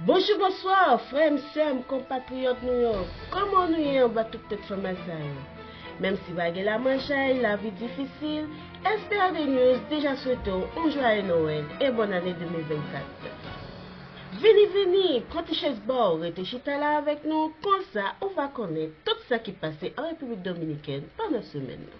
Bonjou bonswa frè m sè m konpatriyòt nou yo kòman nou ye anba tout tèt fè mal sa yo menm si pa gen lamanjay lavi difisil SPAD news deja swete w on jwaye nowèl e bòn ane 2024 vini vini pran ti chèz ba w rete chita la avèk nou konsa ou va konnen tout sa ki pase an repiblik dominikèn pandan semèn nan.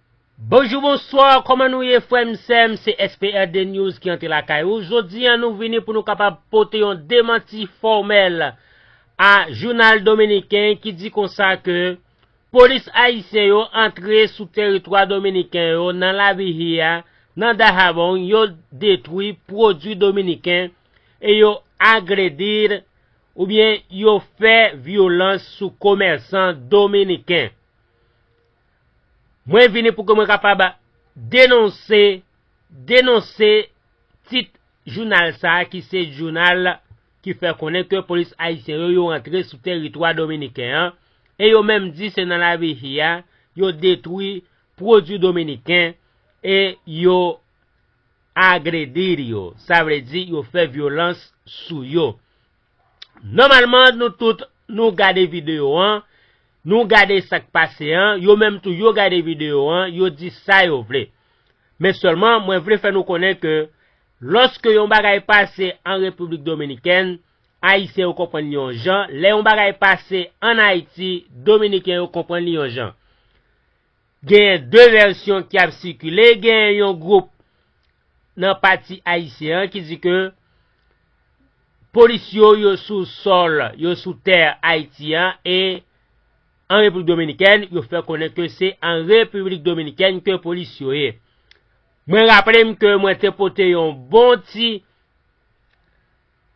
Bonjou bonswa kòman nou ye frèm sèm se SPRD news ki antre lakay ou jodi an nou vini pou nou kapab pote yon demanti fòmèl a jounal dominiken ki di konsa ke polis ayisyen yo antre sou teritwa dominiken yo nan la Vihia nan Dahabong yo detwi pwodwi dominiken e yo agredir oubyen yo fè vyolans sou komèsan dominiken. Mwen vini pou ke mwen kapab denonse, denonse tit jounal sa a ki se jounal ki fè konnen ke polis ayisyen yo yo rantre sou teritwa dominiken an e yo menm di se nan la Vihia yo detwi pwodwi dominiken e yo agredir yo, sa vle di yo fè vyolans sou yo. Nòmalman nou tout nou gade video an, nou gade sak pase an, yo menm tou yo gade video an, yo di sa yo vle. Men sèlman mwen vle fè nou konnen ke lòske yon bagay pase an Repiblik Dominikèn, Ayisyen yo konprann li yon jan, lè yon bagay pase an Ayiti, Dominiken yo konprann li yon jan. Genyen 2 vèsyon ki ap sikile, genyen yon gwoup nan pati ayisyen an ki di ke polis yo yo sou sòl, yo sou tè Ayiti an e an Repiblik Dominikèn, yo fè konnen ke se an Repiblik Dominikèn ke polis yo ye. Mwen raple m ke mwen te pote yon bon ti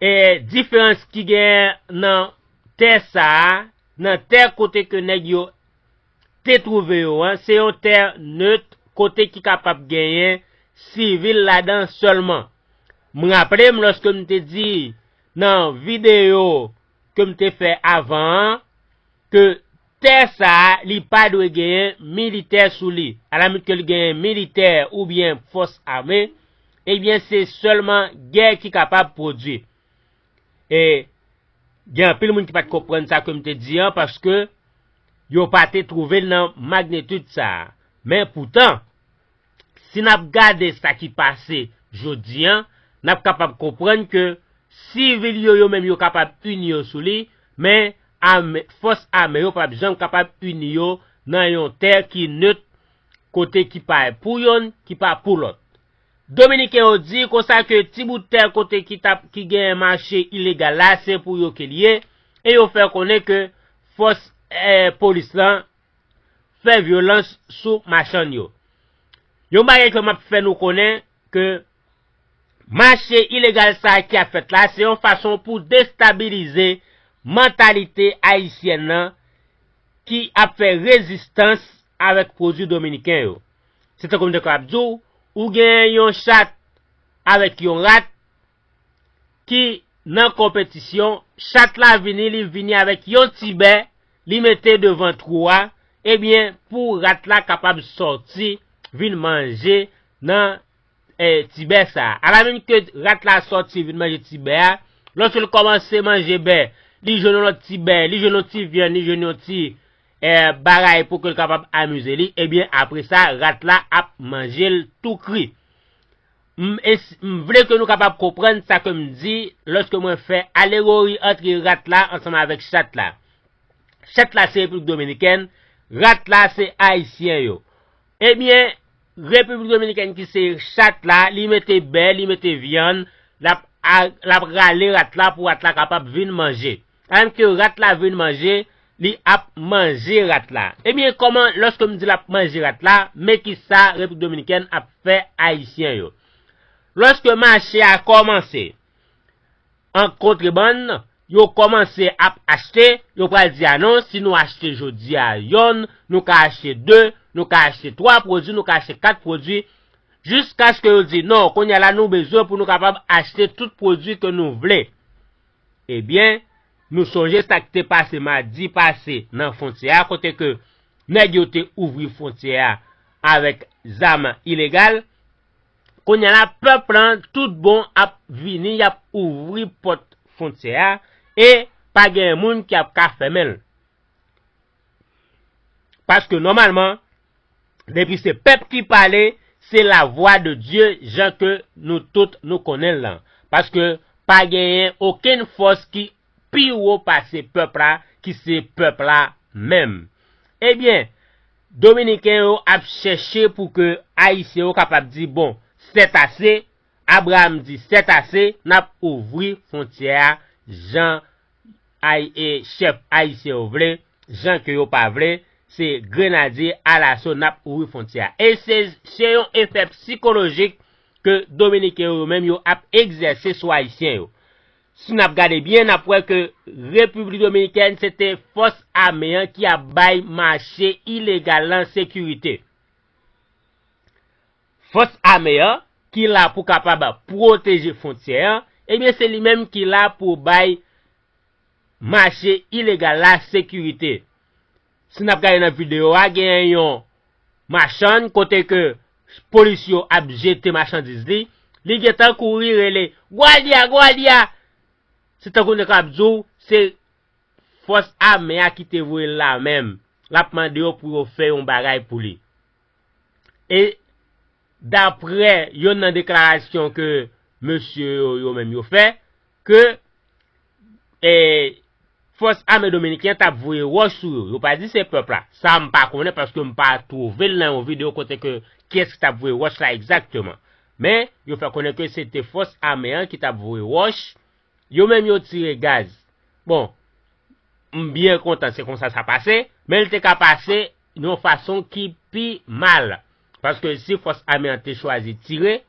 E diferans ki genyen nan tè sa a, nan tè kote ke nèg yo te twouve yo an, se yon tè neut kote ki kapab genyen sivil ladan sèlman. M raple m lòske m te di nan videyo ke m te fè avan an, Ke tè sa a li pa dwe genyen militè sou li, alamut ke li genyen militè oubyen fòs ame, ebyen se sèlman gè ki kapab pwodui. E, gen anpil moun ki pa te konprann sa ke m te di an, paske yo pa te twouve l nan magnitude sa a. Men poutan, Si n ap gade sa ki pase jodi an, n ap kapab konprann ke sivil yo yo menm yo kapab ini yo sou li, men ame, fòs ame yo pap janm kapab ini yo nan yon tè ki neut kote ki pa pou yonn, ki pa pou lòt. Dominiken yo di konsa ke ti bout tè kote ki tap, ki genyen mache ilegal la se pou yo ke li ye, e yo fè konnen ke fòs, eh, polis lan, fè vyolans sou machann yo. Yon bagay ke map fè nou konnen ke mache ilegal sa ki ap fèt la se yon fason pou destabilize mantalite ayisyèn nan ki ap fè rezistans avèk pwodwi dominiken yo. Se tankou m te kapab di w, ou gen yon chat avèk yon rat, ki nan konpetisyon, chat la vini li vini avèk yon ti bè li mete devan twou a, ebyen pou rat la kapab sòti vin manje nan ti bè sa. Alamenm ke rat la sòti vin manje ti bè a, lòske l kòmanse manje bè, li jwenn yon lòt ti bè, li jwenn yon ti vyann, li jwenn yon ti bagay pou ke l kapab amize li, ebyen apre sa rat la ap manje l tou kri. M es m vle ke nou kapab konprann sa ke m di lòske mwen fè alegori antre rat la ansanm avèk chat la. Chat la se Repiblik Dominikèn, rat la se Ayisyen yo. Ebyen, Repiblik Dominikèn ki se chat la, li mete bè, li mete vyann, l ap rale rat la pou rat la kapab vin manje. An ke rat la vin manje li ap manje rat la ebyen kòman lòske m di lap manje rat la men kisa replik dominikèn ap fè ayisyen yo lòske mache a kòmanse an kontrebann yo kòmanse ap achte yo pral di a non si nou achte jodi a yonn nou ka achte de nou ka achte twa pwodwi nou ka achte kat pwodwi jiskaske yo di non kounye a la nou bezwen pou nou kapab achte tout pwodwi ke nou vle. Ebyen, nou sonje sa k te pase madi pase nan fwontyè a kote ke nèg yo te ouvri fwontyè a avèk zam ilegal. Kounya la pèp lan tout bon ap vini y ap ouvri pòt fwontyè a e pa gen moun ki ap ka fèmen l. Paske nòmalman depi se pèp ki pale se la vwa de Dye jan ke nou tout nou konnen l lan. Paske pa genyen okenn fòs ki pi wo pase pèp la ki se pèp la menm. Ebyen Dominiken yo ap chèche pou ke Ayisyen yo kapab di bon sètase, Abraham di sètase n ap ouvri fwontyè a jan Ay e chèf ayisyen yo vle, jan ke yo pa vle, se grenadye alaso nap ouvri fwontyè a. E se se yon efè psikolojik ke dominiken yo yo menm yo ap egzèse sou ayisyen yo. Si nap gade byen nap wè ke repiblik dominikèn se te fòs ame an ki ap bay mache ilegal lan sekirite. Fòs ame an, ki la pou kapab pwoteje fwontyè an, ebyen se li menm ki la pou bay mache ilegal la sekirite. Si n ap gade nan videyo a, genyen yon machann kote ke polis yo ap jete machandiz li, li gen tan kouri rele, Guardia! Guardia! Se tankou nou kapab di w se fòs ame a ki te voye l la menm, l ap mande yo pou yo fè yon bagay pou li. E daprè yonn nan deklarasyon ke mesye yo yo menm yo fè, ke e fòs ame dominiken tap voye wòch sou yo. Yo pa di se pèp la. Sa m pa konnen paske m pa twouve l nan yon video kote ke kiyès ki tap voye wòch la egzakteman. Men, yo fè konnen ke se te fòs ame an ki tap voye wòch, yo menm yo tire gaz. Bon, m byen kontan se konsa sa pase, men l te ka pase yon fason ki pi mal paske si fòs ame an te chwazi tire,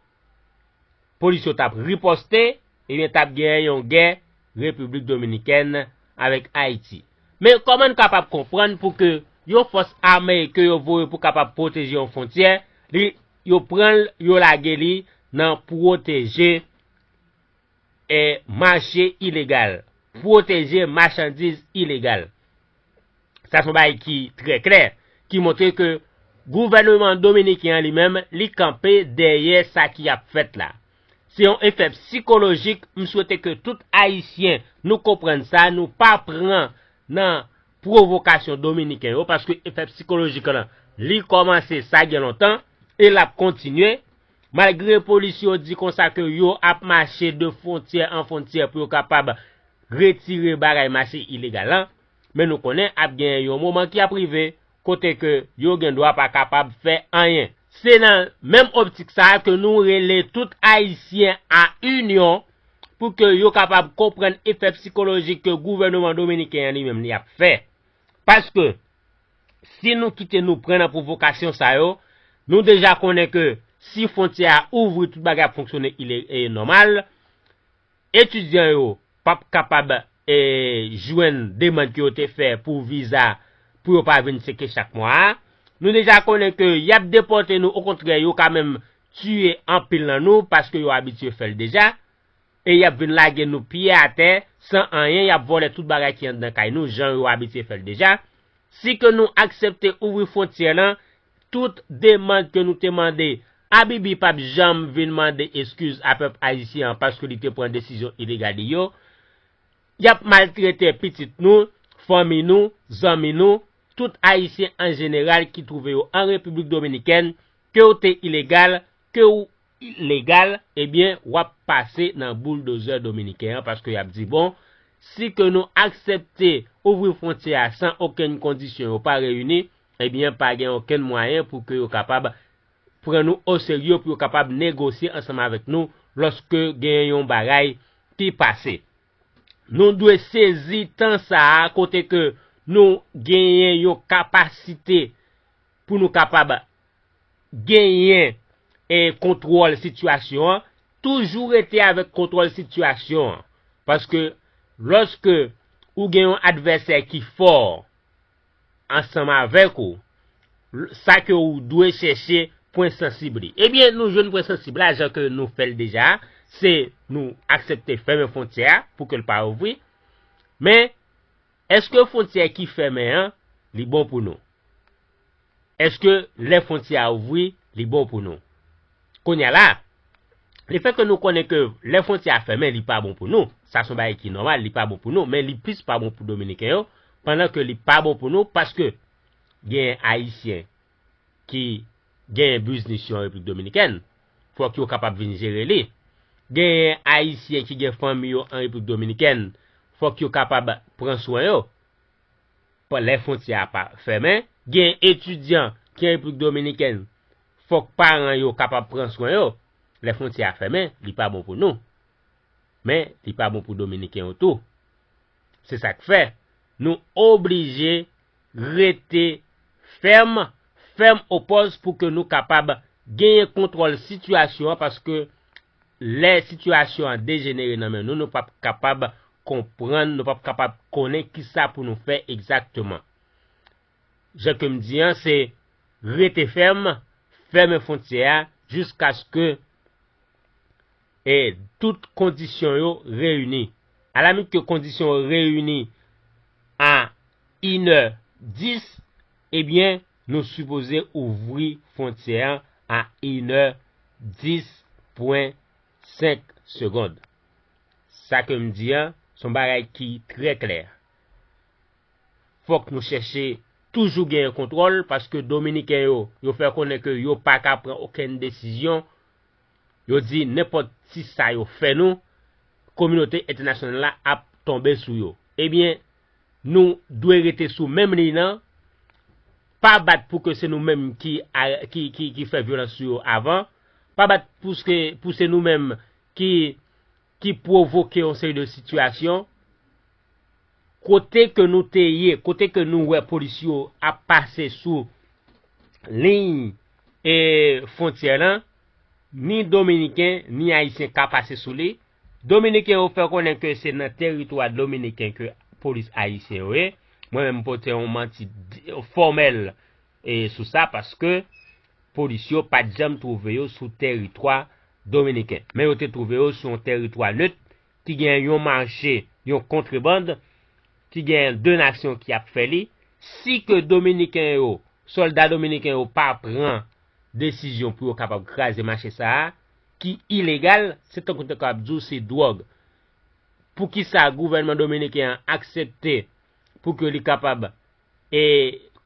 polis yo t ap ripòste ebyen t ap gen yon gè Repiblik Dominikèn avèk Ayiti. Men kòman n kapab konprann pou ke yon fòs ame ke yo voye pou kapab pwoteje yon fwontyè, li yo pran l yo lage li nan pwoteje mache ilegal, pwoteje machandiz ilegal. Sa son bagay ki trè klè, ki montre ke gouvèneman dominiken an li menm li kanpe dèyè sa ki ap fèt la. Se yon efè psikolojik, m swete ke tout ayisyen nou konprann sa, nou pa pran nan pwovokasyon dominiken yo, paske efè psikolojik lan li kòmanse sa gen lontan e l ap kontinye. Malgre polis yo di konsa ke yo ap mache de fwontyè an fwontyè pou yo kapab retire bagay mache ilegal lan, men nou konnen ap gen yon moman ki ap rive kote ke yo gen dwa pa kapab fè anyen. Se nan menm optik sa ke nou rele tout Ayisyen a inyon pou ke yo kapab konprann efè psikolojik ke gouvèneman dominiken an li menm li ap fè. Paske, si nou kite nou pran nan pwovokasyon sa yo, nou deja konnen ke si fwontyè a ouvri tout bagay ap fonksyone nòmal, etidyan yo p ap kapab jwenn demand ke yo te fè pou viza pou yo pa vin seke chak mwa a, nou deja konnen ke y ap depòte nou okontrè yo ka menm tiye anpil nan nou paske yo abitye fè l deja. e yap vin lage nou pye atè san anyen yap vòlè tout bagay ki anndan kay nou jan yo abitye fèl deja, si ke nou aksepte ouvri fwontyè lan tout demand ke nou te mande abibi pap janm vin mande eskiz a pèp ayisyen an paske li te pran desizyon ilegal li yo, yap maltrete pitit nou, fanmi nou, zanmi nou, tout ayisyen an jeneral ki twouve yo an repiblik dominikèn kew te ilegal, kew legal ebyen wap pase nan boulldozè dominiken an paske yap di bon si ke nou aksepte ouvri fwontyè a san okenn kondisyon yo pa reyini ebyen pa gen okenn mwayen pou ke yo kapab pran nou o serye pou yo kapab negosye ansanm avèk nou lòske gen yon bagay ki pase nou dwe sezi tan sa a kote ke nou genyen yon kapasite pou nou kapab genyen kontwòl sitiyasyon an, toujou rete avèk kontwòl sitiyasyon an. Paske lòske ou gen yon advèsè ki fò ansanm avèk ou, sa ke ou dwe chèche pwen sansib li. Ebyen nou jwenn pwen sansib la jan ke nou fè l deja a, se nou aksepte fèmen fwontyè a pou ke l pa ouvri. Men, èske fwontyè ki fèmen an, li bon pou nou? Èske lè fwontyè a ouvri, li bon pou nou? Kounye a la, lefètke nou konnen ke lè fwontyè a fèmen li pa bon pou nou, sa se yon bagay ki nòmal, li pa bon pou nou, men li plis pa bon pou Dominiken yo, pandan ke li pa bon pou nou paske genyen Ayisyen ki genyen biznis yo an Repiblik Dominikèn, fòk yo kapab vin jere li. Genyen Ayisyen ki gen fanmi yo an Repiblik Dominikèn, fòk yo kapab pran swen yo. Pou lè fontyè a pa fèmen, gen etidyan ki an Repiblik Dominikèn, fòk paran yo kapab pran swen yo. Lè fontyè a fèmen, li pa bon pou nou. Men, li pa bon pou Dominiken yo tou. Se sa k fè, nou oblije rete fèm, fèm opòz pou ke nou kapab genyen kontwòl sitiyasyon an paske Lè sitiyasyon an dejenere nan men nou, nou pap kapab konprann, nou pap kapab konnen kisa pou nou fè egzakteman. Jan ke m di an, se rete fèm, fèmen fontyè a jiskaske e tout kondisyon yo reyini. Alamit ke kondisyon yo reyini a inè dis, ebyen, Nou sipoze ouvri fwontyè an a inè 10 pwen 5 segond. Sa ke m di an, s on bagay ki trè klè. Fòk nou chèche toujou genyen kontwòl paske dominiken yo, yo fè konnen ke yo pa ka pran okenn desizyon, yo di nenpòt ti sa yo fè nou, kominote entènasyonal la ap tonbe sou yo. Ebyen, Nou dwe rete sou menm liy nan, pa bat pou ke se nou menm ki fè vyolans sou yo avan, pa bat pou se nou menm ki pwovoke yon seri de sitiyasyon. Kote ke nou te ye, kote ke nou wè polis yo ap pase sou liy fontyè lan, ni Dominiken, ni Ayisyen ka pase sou li, Dominiken yo fè konnen ke se nan teritwa dominiken ke polis ayisyen yo ye, mwen menm m pote yon manti fòmèl sou sa paske polis yo pa t janm twouve yo sou teritwa dominiken, men yo te twouve yo sou yon teritwa nèt ki gen yon mache, yon kontreband, ki gen 2 nasyon ki ap fè li, si ke dominiken yo, sòlda dominiken yo pa pran desizyon pou yo kapab kraze mache sa a, ki ilegal, se tankou te ka ap di w se dwòg. Poukisa gouvènman dominiken an aksepte pou ke li kapab e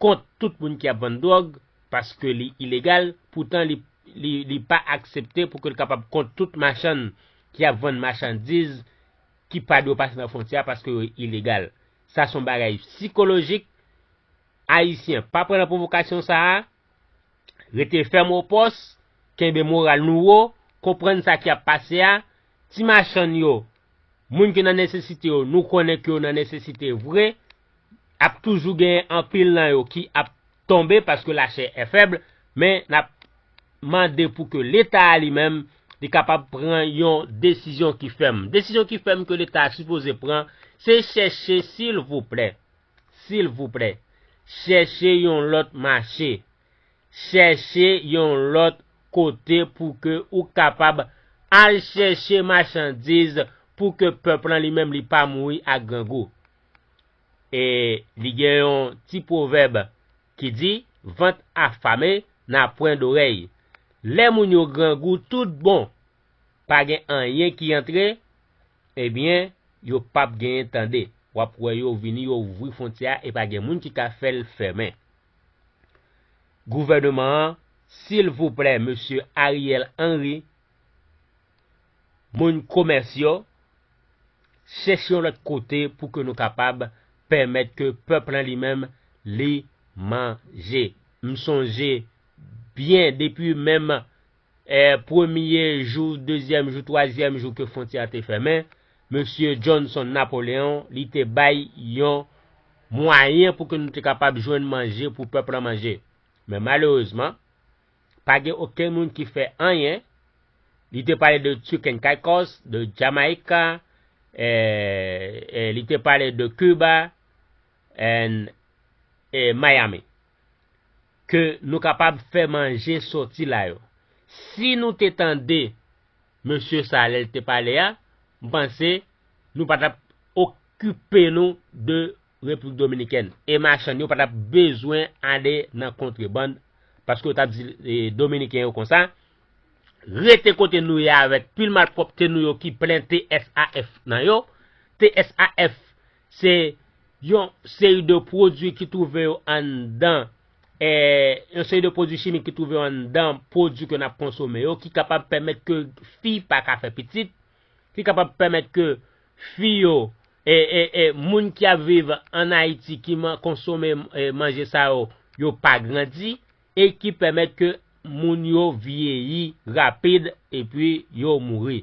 kont tout moun ki ap vann dwòg, paske li ilegal, poutan li pa aksepte pou ke l kapab kont tout machann ki ap vann machandiz ki pa dwe pase nan fwontyè a paske yo ilegal. Sa se yon bagay sikolojik, Ayisyen pa pran nan pwovokasyon sa a. Rete fèm o pòs, kenbe moral nou wo, konprann sa ki ap pase a, ti machann yo, moun ki nan nesesite yo nou konnen ke yo nan nesesite vre, ap toujou genyen anpil nan yo ki ap tonbe paske lachè è fèb, men nap mande pou ke leta a li menm li kapab pran yon desizyon ki fèm. Desizyon ki fèm ke leta a sipoze pran se chèche silvouplè. silvouplè chèche yon lòt mache chèche yon lòt kote pou ke ou kapab al chèche machandiz pou ke pèp lan li menm li pa mouri ak grangou e li gen yon ti pwovèb ki di vant afame na pwen dorèy lè moun yo grangou tout bon pa gen anyen ki antre Ebyen yo pap genyen tande. Wap wè yo vini yo ouvri fontyè a epa gen moun ki ka fèl fèmen. Gouvèneman an silvouplè mesye Ariel Henry moun komès yo chèche yon lòt kote pou ke nou kapab pèmèt ke pèp lan li menm li manje. M sonje byen depi menm Premye jou, dezyèm jou, twazyèm jou ke fwontyè a te fèmen, Mesye Johnson Napoleon, li te bay yon mwayen pou ke nou te kapab jwenn manje pou pèp lan manje. Men malerezman, pa gen okenn moun ki fè anyen. Li te pale de Chicken Caicos, de Jamaica, eh, li te pale de Cuba and eh, Miami. Ke nou kapab fè manje soti la yo. Si nou te tande mesye sa lè l te pale a, m panse nou pa t ap okipe nou de Repiblik Dominikèn e machann yo pa t ap bezwen ale nan kontrebann paske yo t ap di Dominiken yo konsa, Rete kote nou ye avèk pil malpwòpte nou yo ki plen TSAF nan yo, TSAF Se yon seri de pwodui ki twouve yo anndan, yon seri de pwodui chimik ki twouve yo anndan pwodui ke n ap konsome yo ki kapab pèmèt ke fi pa ka fè pitit, ki kapab pèmèt ke fi yo, moun ki ap viv an Ayiti ki konsome manje sa yo, yo pa grandi, e ki pèmèt ke moun yo vyeyi rapid epi yo mouri.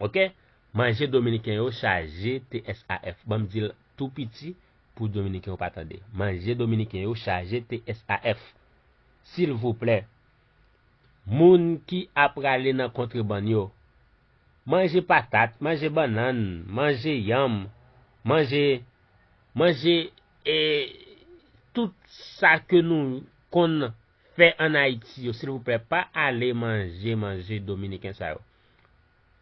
Ok manje dominiken yo chaje TSAF banm dil tou piti pou dominiken yo pa tande manje dominiken yo chaje TSAF silvouplè moun ki a prale nan kontrebann yo manje patat manje bannann manje yanm manje manje e tout sa ke nou konn fè an ayiti yo silvouplè pa ale manje manje dominiken sa yo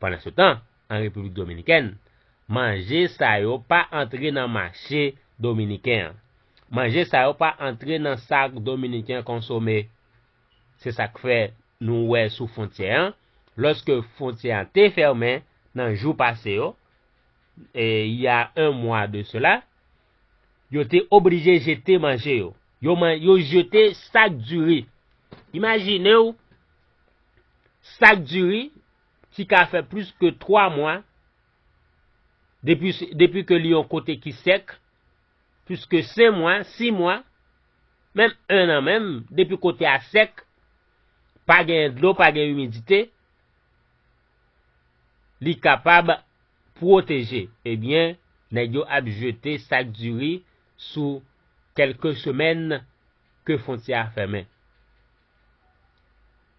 pandan se tan an repiblik dominikèn manje sa yo pa antre nan mache dominiken an manje sa yo pa antre nan sak dominiken konsome se sak fè nou wè sou fontyè an lòske fontyè an te fèmen nan jou pase yo e ya 1 mwa de sela yo te oblije jete manje yo. Yo man yo jete sak diri. Imajine w sak diri ti ka fè plis ke 3 mwa depi ke li yon kote ki sèk, plis ke 5 mwa, 6 mwa, menm 1 an menm, depi kote a sèk, pa genyen dlo, pa gen imidite, li kapab pwoteje. Ebyen, nèg yo ap jete sak diri. sou kelke semèn ke fwontyè a fèmen.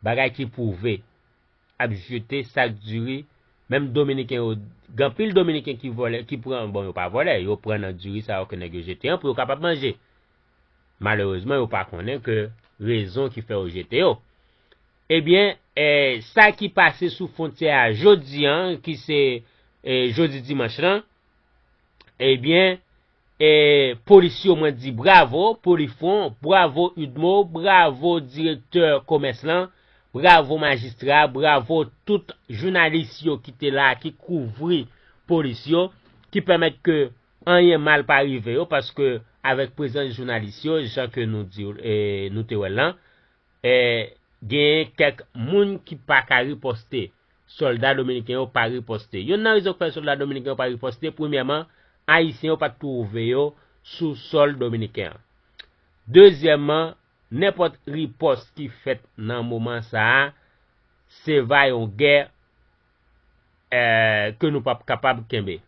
Bagay ki pwouve ap jete sak diri menm dominiken yo gen anpil dominiken ki vòlè ki pran bon yo pa vòlè yo pran nan diri sa yo ke nèg yo jete an pou yo kapab manje. Malerezman yo pa konnen ke rezon ki fè yo jete yo. Ebyen sa ki pase sou fwontyè a jodi an ki se jodi dimanch lan ebyen Eeh polis yo mwen di bravo pou li fon bravo udmo bravo direktè komès lan bravo majistra bravo tout jounalis yo ki te la ki kouvri polis yo ki pèmèt ke anyen mal pa rive yo paske avèk prezans jounalis yo jan ke nou di nou te wèl lan eeh genyen kèk moun ki paka riposte Sòlda dominiken yo pa riposte. Yonn nan rezon k fè sòlda dominiken yo pa riposte, premyèman, Ayisyen yo pa t twouve yo sou sòl dominiken an. Dezyèmman, nenpòt ripòs ki fèt nan moman sa a, se va yon gè ke nou p ap kapab kenbe.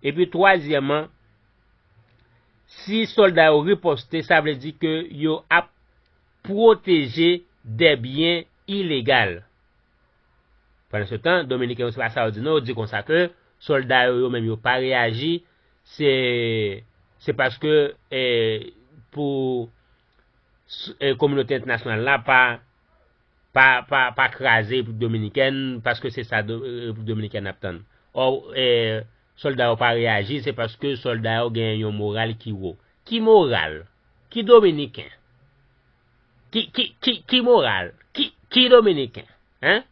Epi twazyèman, si sòlda yo riposte, sa vle di ke yo ap pwoteje dè byen ilegal Pandansetan, Dominiken yo se pa sa yo di non yo di konsa ke solda yo yo menm yo pa reyaji se se paske e pou e kominote entènasyonal la pa pa pa pa kraze Repiblik Dominikèn paske se sa Repiblik Dominikèn ap tann ò e solda yo pa reyaji se paske solda yo genyen yon moral ki wo ki moral? Ki Dominiken? Ki moral? Ki dominiken? Hein?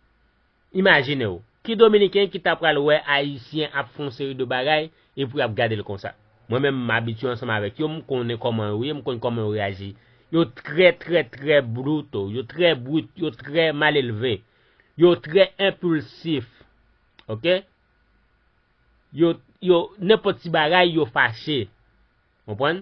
Imajine w, ki dominiken ki ta pral wè ayisyen ap fè yon seri de bagay e pou y ap gade l konsa? Mwen menm m abitye ansanm avèk yo, m konnen kòman yo ye, m konn kòman yo reyaji. Yo trè trè trè bruto, yo trè brut, yo trè malelve. Yo trè enpilsif. Ok? Yo, yo, nenpòt ti bagay yo fache. Konprann?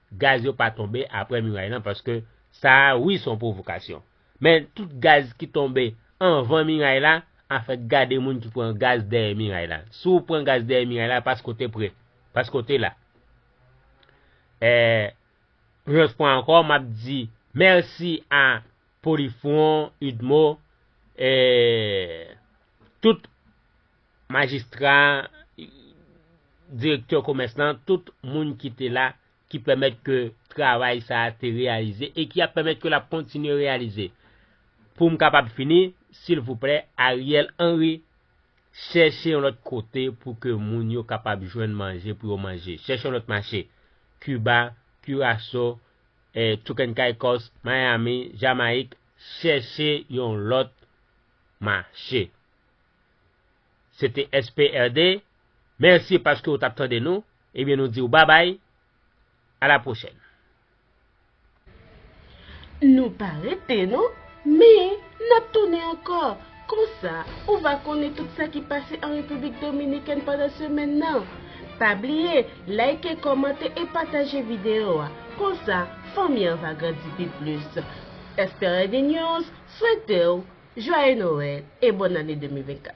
Gaz yo pa tonbe aprè miray lan paske sa wi son provokasyon. Men tout gaz ki tonbe anvan miray la anfèt gade moun ki pran gaz dèyè miray la. Si w pran gaz dèyè miray la paske w te pre, paske w te la. E yon lòt fwa ankò m ap di mèsi a Polifron, Udmo e tout. majistra, direktè komès lan, tout moun ki te la, ki pèmèt ke travay sa a te reyalize e ki ap pèmèt ke l ap kontinye reyalize. Pou m kapab fini, silvouplè, Ariel Henry, chèche yon lòt kote pou ke moun yo kapab jwenn manje pou yo manje. Chèche yon lòt mache. Kiba, Kiraso, Tuken Caicos, Miami, Jamayik, chèche yon lòt mache. Se te SPRD, mèsi paske ou tap tande nou, ebyen nou diw babay, a la pwochèn. Nou pa rete non, men nap tounen ankò, konsa ou va konnen tout sa ki pase an Repiblik Dominikèn pandan semèn nan. Pa bliye like, kòmante e pataje video a, konsa fanmi an va grandi pi plis. SPRD News, Swete w Joyeux Noël e Bonne Année 2024.